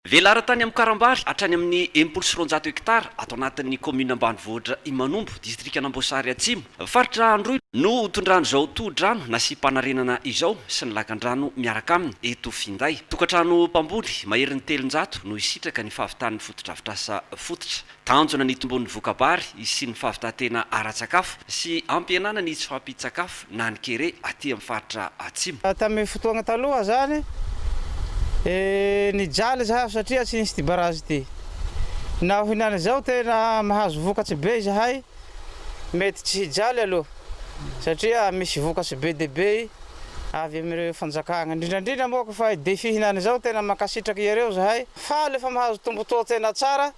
Velara tany Amokarambary hatrany amin'ny enimpolo sy roanjato hektara ato anatin'ny kaominina ambanivohitra Imanombo, distrikan'Amboasary Atsimo, faritra Androy, no hotondran'izao tohodrano nasiam-panarenana izao sy ny lakandrano miaraka aminy eto finday. Tokantrano mpamboly maherin'ny telonjato no hisitraka ny fahavitan'ny fotodrafitrasa fototra. Tanjona ny hitomboan'ny voka-bary sy ny fahavitantena ara-tsakafo sy hampihenana ny tsy fahampian-tsakafo na ny kere aty amin'ny faritra Atsimo. Tamin'ny fotoagna taloha zany e, nijaly zahay satria tsy nisy ity barazy ity. Naho hinany izao tena mahazo vokatry be izahay, mety tsy hijaly aloha satria misy vokatry be dia be avy amin'ireo fanjakagna. Indrindra indrindra moa ko fa i Defi hinany izao tena mankasitraky iareo zahay. Faly fa mahazo tombontsoa tena tsara.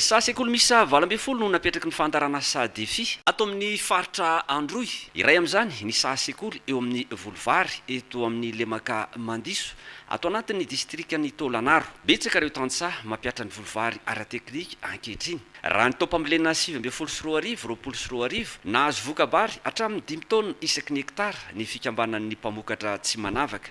Saha sekoly miisa valo ambin'ny folo no napetraky ny fandaharana saha defi. Ato amin'ny faritra Androy. Iray amin'izany ny saha sekoly eo amin'ny Volovary eto amin'ny lemaka Mandiso ato anatin'ny distrikan'i Taolagnaro. Betsaka ireo tantsaha mampihatra ny Volovary ara-teknika ankehitriny. Raha ny taom-pambolena sivy ambin'ny folo sy roa arivo, roapolo sy roa arivo, nahazo voka-bary hatramin'ny dimy taonina isaky ny hektara ny fikambanan'ny mpamokatra Tsimanavaka.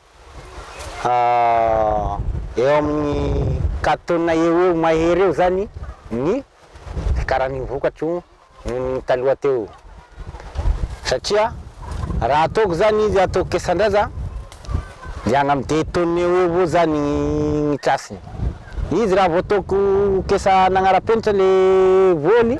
Eo amin'ny quatre tonnes eo ho eo mahery eo izany ny fiakaran'ny vokatra io noho ny taloha teo io. Satria raha ataoko izany izy ataoko kesan-draza dia any amin'ny deux tonnes eo ho eo eo izany ny case-ny. Izy raha vao ataoko kesa nanara-penitra ilay voany.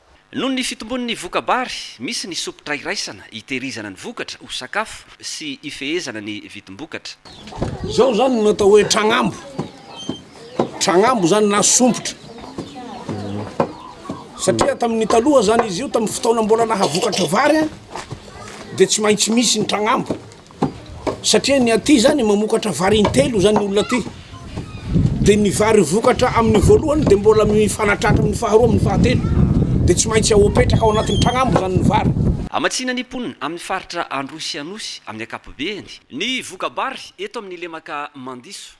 Noho ny fitombon'ny voka-bary, misy ny sompitra iraisana hitehirizana ny vokatra ho sakafo sy hifehezana ny vidim-bokatra. Izao izany no atao hoe tragnambo. Tragnambo izany na sompitra. Satria tamin'ny taloha izany izy io, tamin'ny fotoana mbola nahavokatra vary, dia tsy maintsy misy ny tragnambo. satria ny aty zany mamokatra vary intelo zany olona aty de ny vary vokatra amin'ny voalohany de mbola mifanatratra amin'ny faharoa amin'ny fahatelo de tsy maintsy ao apetraka ao anatin'ny tragnambo zany ny vary Hamatsiana ny mponina amin'ny faritra Androy sy Anosy amin'ny ankapobeany ny voka-bary eto amin'ny lemaka Mandiso.